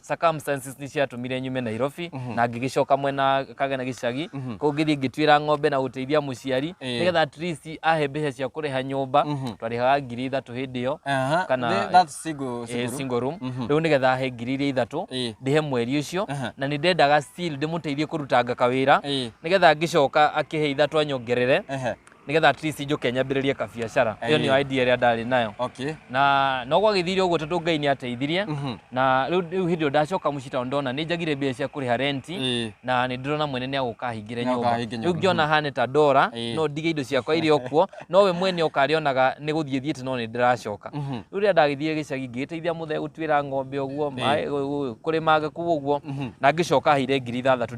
circumstances nĩ ciatũmire nyume Nairobi na ngĩgĩcoka mwena kagena gĩcagi kũu ngĩthiĩ ngĩtuĩra ng'ombe na gũteithia mũciari Ĩĩ. nĩgetha at least ahe mbeca cia kũrĩha nyũmba twarĩhaga ngiri ithatũ hĩndĩ ĩyo Aha, kana- the- that's single- eh, single room. single room rĩu nĩgetha ahe ngiri iria ithatũ Ĩĩ. ndĩhe mweri ũcio Aha. na nĩ ndendaga still ndĩmũteithie kũrutanga kawĩra Ĩĩ. nĩgetha ngĩcoka akĩhe ithatũ anyongerere Ehe. nigetha at least njuke nyambĩrĩrie kabiacara ĩyo Aye. nĩyo idea ĩrĩa ndarĩ nayo okay na no gwagĩthire ũguo tondũ ngai nĩ ateithirie Mhm. na rĩu rĩu hĩndĩ ĩyo ndacoka mũciĩ tondũ ndona nĩ njagire mbia cia kũrĩha renti Ĩĩ. na nĩ ndĩrona mwene nĩ agũka hingĩre Nĩ agũka nyũmba ahinge rĩu nyũmba. ngĩona hane ta ndora Ĩĩ. no ndige indo ciakwa irĩ o kuo no we mwene ũkarĩonaga nĩ gũthiĩ thiĩte no nĩ ndĩracoka Mhm. rĩu rĩrĩa ndagĩthire gĩcagi ngĩgĩteithia mũthee gũtuĩra ng'ombe ũguo maĩ- ũ- ũ- kũrĩma ngĩkũ ũguo na ngĩcoka heire ngiri ithathatũ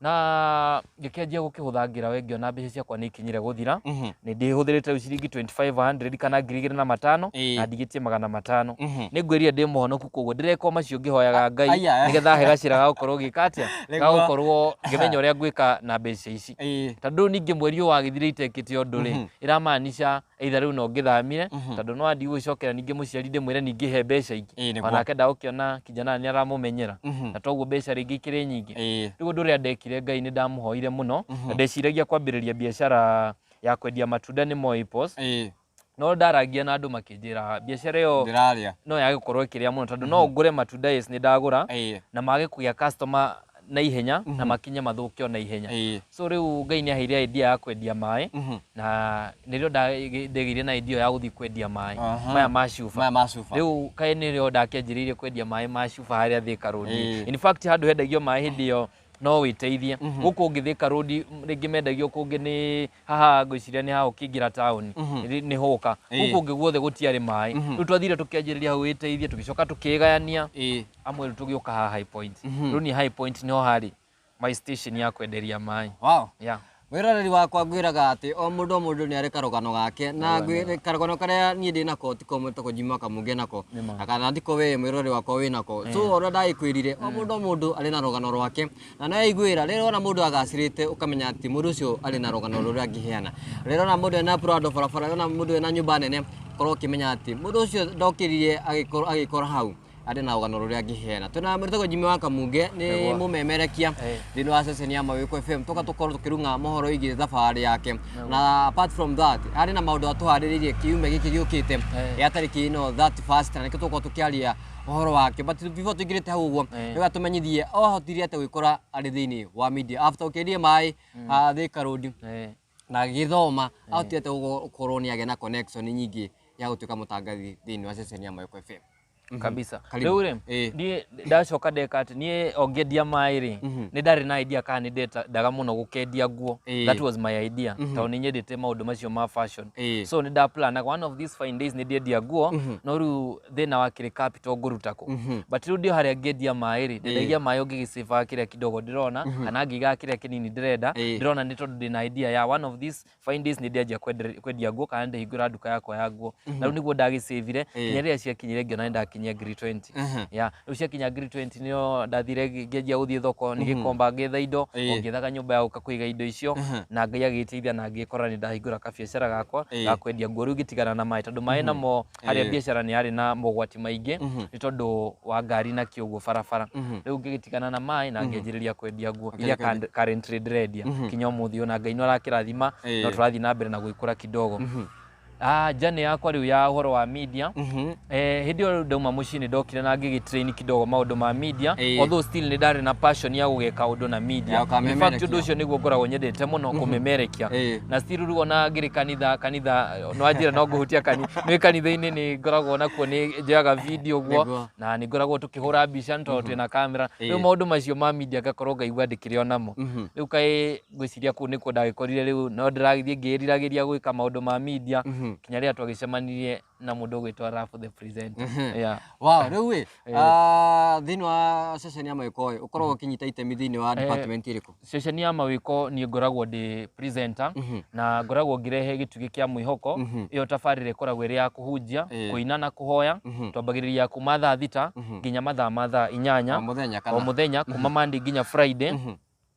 na ngĩkĩanjia gũkĩhũthangĩra we ngĩona mbeca ciakwa nĩ ikinyire gũthira Mhm. nĩ ndĩhũthĩrĩte rĩu ciringi 2500 kana ngiri igĩrĩ na matano Ĩĩ. na ndigĩtie magana matano Mhm. nĩ ngwĩrire ndĩ mũhonoku koguo ndĩrekwo macio ngĩhoyaga ngai aya. nĩgetha he gacĩra ga gũkorwo gĩka atĩa ga Nĩguo. gũkorwo ngĩmenya ũrĩa ngwĩka na mbeca ici Ĩĩ. tondũ ningĩ mweri ũyũ wagĩthire itekĩte ũndũ rĩ Mhm. ĩramaanisha either rĩu no ngĩthamire Mhm. tondũ no andi gũgĩcokera ningĩ mũciari ndĩmwĩre ningĩ he mbeca ingĩ Ĩĩ, nĩguo. onake ndagũkĩona kijana nĩ aramũmenyera Mhm. na toguo mbeca rĩngĩ ikĩrĩ nyingĩ Ĩĩ. rĩu ũndũ ũrĩa ndekire ngai nĩ ndamũhoire mũno Mhm. na ndeciragia kwambĩrĩria biacara ya kwendia matunda nĩ Moi Post Ĩĩ. no ndarangia na andũ makĩnjĩra biacara ĩyo Ndĩrarĩa. no yage gũkorwo ĩkĩrĩa mũno tondũ no ngũre matunda yes nĩ ndagũra Ĩĩ. na mage kũgĩa customer na ihenya na Mhm. makinye mathũke o na ihenya Ĩĩ. so rĩu ngai nĩ aheire idea ya kwendia maĩ Mhm. na nĩrĩo ndagĩ- ndegĩire na idea ya gũthiĩ kwendia maĩ Aha. maya ma cuba Maya ma cuba. rĩu kaĩ nĩrĩo ndakĩanjĩrĩirie kwendia maĩ ma cuba harĩa thĩka rũndi Ĩĩ. in fact handũ hendagio maĩ hĩndĩ ĩyo no wĩteithie Mhm. gũkũ ũngĩ thĩka rũndi rĩngĩ mendagio kũngĩ nĩ haha ngwiciria nä ha å kä ingä ra taåni nä håka Ĩĩ. gå kå ngä guothe gå tiarä maä rä u twathire tå kä anjä rä ria hau wä teithie tå gä coka tå kä gayania Ĩĩ. amwe rä u tå gä å ka haha High Point. rä u niä High Point nä ho harä my station ya kwenderia maä Wow. yeah. mwĩroreri wakwa ngwĩraga atĩ o mũndũ o mũndũ nĩ arĩ karũgano gake na ngwĩ- karũgano karĩa niĩ ndĩ nako ti komwe ta kũnjima kamũngĩ nako na kana ndiko wee mwĩroreri wakwa wĩ nako so ũrĩa ndagĩkwĩrire o mũndũ o mũndũ arĩ na rũgano rwake na no yaiguĩra rĩrĩa wona mũndũ agacĩrĩte ũkamenya atĩ mũndũ ũcio arĩ na rũgano rũrĩa angĩheana rĩrĩa wona mũndũ ena prado barabara wona mũndũ ena nyũmba nene korwo ũkĩmenya atĩ mũndũ ũcio ndokĩrire agĩkorwo- agĩkora hau arĩ na rũgano rũrĩa angĩheana twĩna mũrĩtagwo jimi wa kamunge nĩ Nĩguo. mũmemerekia Eh. thĩinĩ wa ceceni ya mawĩko fm tũka tũkorwo tũkĩrunga mohoro ĩgiĩ thabarĩ yake na apart from that harĩ na maũndũ atũharĩrĩirie kiumia gĩkĩ gĩũkĩte Eh. ya tarĩki ĩno 31 na nĩkĩo tũkorwo tũkĩaria ũhoro wake but before tũingĩrĩte hau ũguo Eh. rĩu atũmenyithie ohotire atĩ gwĩkora arĩ thĩinĩ wa media after ũkĩendie maĩ ah, Thika Road Eh, na gĩthoma ahotire atĩ gũkorwo nĩ agĩa na connection nyingĩ ya gũtuĩka mũtangathi thĩinĩ wa ceceni ya Mayoko FM kabisa Karibu. rĩu rĩ Eh. ndiĩ ndacoka ndeka atĩ niĩ ongendia maĩ rĩ Mhm. nĩ ndarĩ na idea kana nĩ ndendaga mũno gũkendia nguo Eh. that was my idea Mhm. tondũ nĩ nyendete maũndũ macio ma fashion Eh. so nĩ ndaplanaga one of these fine days nĩ ndĩendia nguo Mhm. no rĩu thina wa kiri capital nguruta ku Mhm. but riu ndio haria ngiendia maĩ ri ndendagia maĩ ngigicĩbaga kiria kidogo ndirona kana ngigaga kiria kinini ndirenda Ĩĩ. ndirona ni tondu ndina idea ya one of these fine days ni ndianjia kwendere- kwendia nguo kana ndihingura nduka yakwa ya nguo na riu niguo ndagicĩbire nginya riria ciakinyire ngiona ni ndakinyia ngiri 20 Mhm. ya riu ciakinya ngiri 20 nio ndathire ngi- ngianjia guthie thoko nigikomba ngetha indo Ĩĩ. o ngethaga nyumba ya guka kuiga indo icio na ngai agĩteithia na ngĩkora nĩ ndahingũra kabiacara gakwa Ĩĩ. ga kwendia nguo rĩu ngĩtigana na maĩ tondũ maĩ namo harĩa Ĩĩ. mbiacara nĩ yarĩ na mogwati maingĩ Mhm. nĩ tondũ wa ngari na kĩ ũguo barabara Mhm. rĩu ngĩgĩtigana na maĩ na ngĩanjĩrĩria kwendia nguo Akĩrĩ iria kwendia. currently ndĩrendia Mhm. kinya ũmũthĩ ona ngai no arakĩrathima Ĩĩ. no tũrathiĩ na mbere na gwĩkũra kidogo Mhm. Ah, njane yakwa rĩu ya ũhoro wa media Mhm. Eh, hĩndĩ ĩyo ndauma mũciĩ nĩ ndokire na ngĩgĩtrain kidogo maũndũ ma media Ĩĩ. although still nĩ ndarĩ na passion ya gũgeka ũndũ na media Ya, In fact, ũkamemerekia. ũndũ ũcio nĩguo ngoragwo nyendete mũno kũmemerekia Ĩĩ. na still rĩu ona ngĩrĩ kanitha kanitha no anjĩra no ngũhutia kani nĩ kanitha-inĩ nĩ ngoragwo nakuo nĩ njoyaga video guo Nĩguo. na nĩ ngoragwo tũkĩhũra mbica nĩ tondũ twĩna kamera rĩu Ĩĩ. maũndũ macio ma media ngakorwo ngaigua ndĩkĩrĩ o namo Mhm. rĩu kaĩ ngwĩciria kũu nĩkuo ndagĩkorire rĩu no ndĩragĩthiĩ ngĩĩriragĩria gwĩka maũndũ ma media Mhm. kinya rĩrĩa twagĩcemanirie na mũndũ ũgwĩtwa Rafu the presenter Mhm. yeah. Wow, rĩu ĩ Eh. Ah, thĩinĩ wa ceceni ya mawĩko ĩ ũkoragwo ũkĩnyita itemi thĩinĩ wa Eh. department ĩrĩkũ ceceni ya mawĩko niĩ ngoragwo ndĩ presenter Mhm. na ngoragwo ngĩrehe gĩtugĩ kĩa mwĩhoko Mhm. ĩyo tabarĩra ĩkoragwo ĩrĩ ya kũhunjia Eh. kũina na kũhoya Mhm. twambagĩrĩria kuma thaa thita Mhm. nginya mathaa ma thaa inyanya o mũthenya o kana mũthenya kuma Monday nginya Friday Mhm.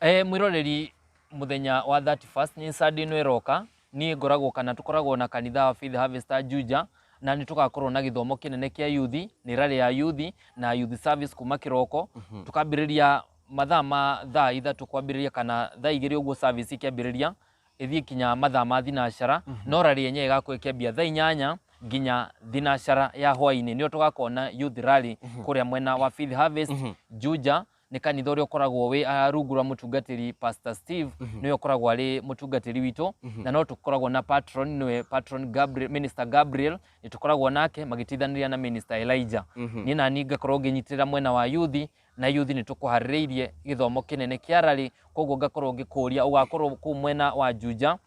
E, mwĩroreri mũthenya wa 31st nĩ Sunday ĩno ĩroka niĩ ngoragwo kana tũkoragwo na kanitha wa Faith Harvester Juja na nĩ tũgakorwo na gĩthomo kĩnene kĩa yuthi nĩ rarĩ ya yuthi na yuthi service kuma kĩroko tũkambĩrĩria mathaa ma thaa ithatũ kwambĩrĩria kana thaa igĩrĩ ũguo service ikĩambĩrĩria ĩthiĩ kinya mathaa ma thinacara no rarĩ yenyewe ĩgakorwo ĩkĩambia thaa inyanya nginya thinacara ya hwainĩ nĩo tũgakorwo na youth rally kũrĩa mwena wa Faith Harvest Juja nĩ kanitha ũrĩa ũkoragwo wĩ ah, rungu rwa mũtungatĩri pastor steve nĩwe ũkoragwo arĩ mũtungatĩri witũ na no tũkoragwo na patron nĩwe patron gabriel, minister gabriel nĩ tũkoragwo nake magĩtithanĩria na minister elijah niĩ nani ngakorwo ngĩnyitĩrĩra mwena wa yuthi na yuthi nĩ tũkũharĩrĩirie gĩthomo kĩnene kĩa rarĩ koguo ngakorwo ngĩkũria ũgakorwo kũu mwena wa juja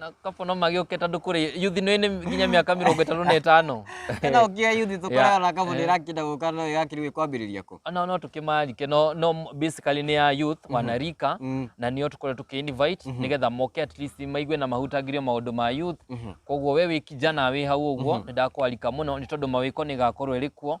na kabo no magĩũkĩta andũ kũrĩ yuthi no ĩnĩ nginya mĩaka mĩrongo ĩtatũ na ĩtano ĩno ũkĩa yuthi tũkoragwo na kabo nĩ ĩrakinda gũka no ĩgakĩrĩ kwambĩrĩria kũ no no tũkĩmarike no no basically nĩ ya youth wanarika Mm. na nĩo tũkorwo tũkĩ invite nĩgetha moke at least maigue na mahutagĩrio maũndũ ma youth koguo we wĩ kijana wĩ hau ũguo nĩ ndakwarika mũno nĩ tondũ mawĩko nĩ gakorwo ĩrĩ kuo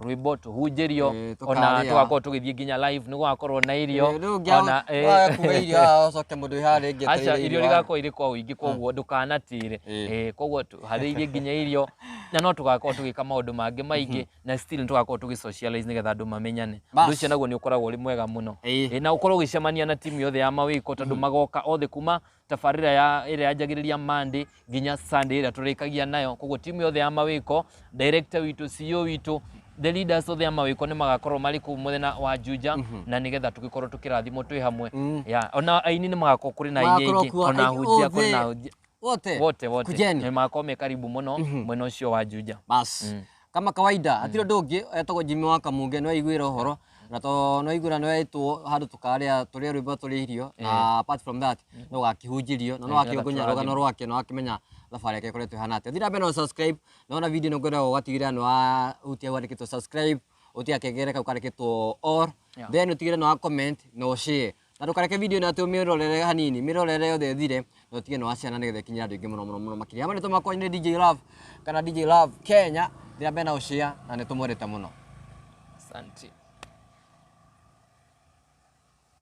rwimbo tuhunjirio Ĩĩ, ona tũkarĩa. tugakorwo tugithii nginya live ni gugakorwo na irio Rĩu ũngĩa- ona eh, waga kuga irio haha ũcoke mũndũ wĩharĩrie aca etereire irio irio haha. rigakorwo irĩ kwa ũingĩ koguo ndũkanatĩre Ĩĩ. Eh, koguo harĩirie nginya irio na no tũgakorwo tũgĩka maũndũ mangĩ maingĩ na still nĩ tũgakorwo tũgĩ socialize nĩgetha andũ mamenyane Bas. ũndũ ũcio naguo nĩ ũkoragwo ũrĩ mwega mũno Ĩĩ. Eh, na ũkorwo ũgĩcemania na timu yothe ya mawĩko tondũ magoka othe kuma tabarĩra ya ĩrĩa yanjagĩrĩria Monday nginya Sunday ĩrĩa tũrĩkagia nayo koguo timu yothe ya mawĩko director witũ CEO witũ the leaders othe a mawĩko nĩ magakorwo marĩ kũu mwena wa Juja na nĩgetha tũgĩkorwo tũkĩrathimwo twĩ hamwe Ya, ona aini nĩ magakorwo kũrĩ na aini Magakorwo aingĩ kuo ona aini hunjia kũrĩ othe. na hunjia wote wote wote kujeni nĩ magakorwo me karibu mũno mwena ũcio wa Juja basi Kama kawaida hatirĩ ũndũ ũngĩ etagwo Jimmy wa Kamunge nĩ waiguĩra ũhoro na to nĩ waiguĩra nĩ wetwo handũ tũkarĩa tũrĩa rwĩmbo tũrĩa irio na apart from that no gakĩhunjirio na no akĩongonya rũgano rwake na wakĩmenya thabarĩ yake ĩkoretwo ĩhana atĩa. Thiĩ na mbere na subscribe na wona video ĩno ngwenda ũgatigĩrĩra nĩ wahutia hau handĩkĩtwo subscribe ũtige gakengele kau kandĩkĩtwo all then ũtigĩrĩre nĩ wa comment na ũ share na ndũkareke video ĩno atĩ ũmĩrorere hanini mĩrorere yothe ĩthire na ũtige nĩ wa ciana nĩgetha ĩkinyĩre andũ aingĩ mũno mũno mũno makĩria hamwe nĩtũ makwanyu nĩ DJ Love kana DJ Love Kenya ndĩra mbere na ũcĩa na nĩtũmwendete mũno asante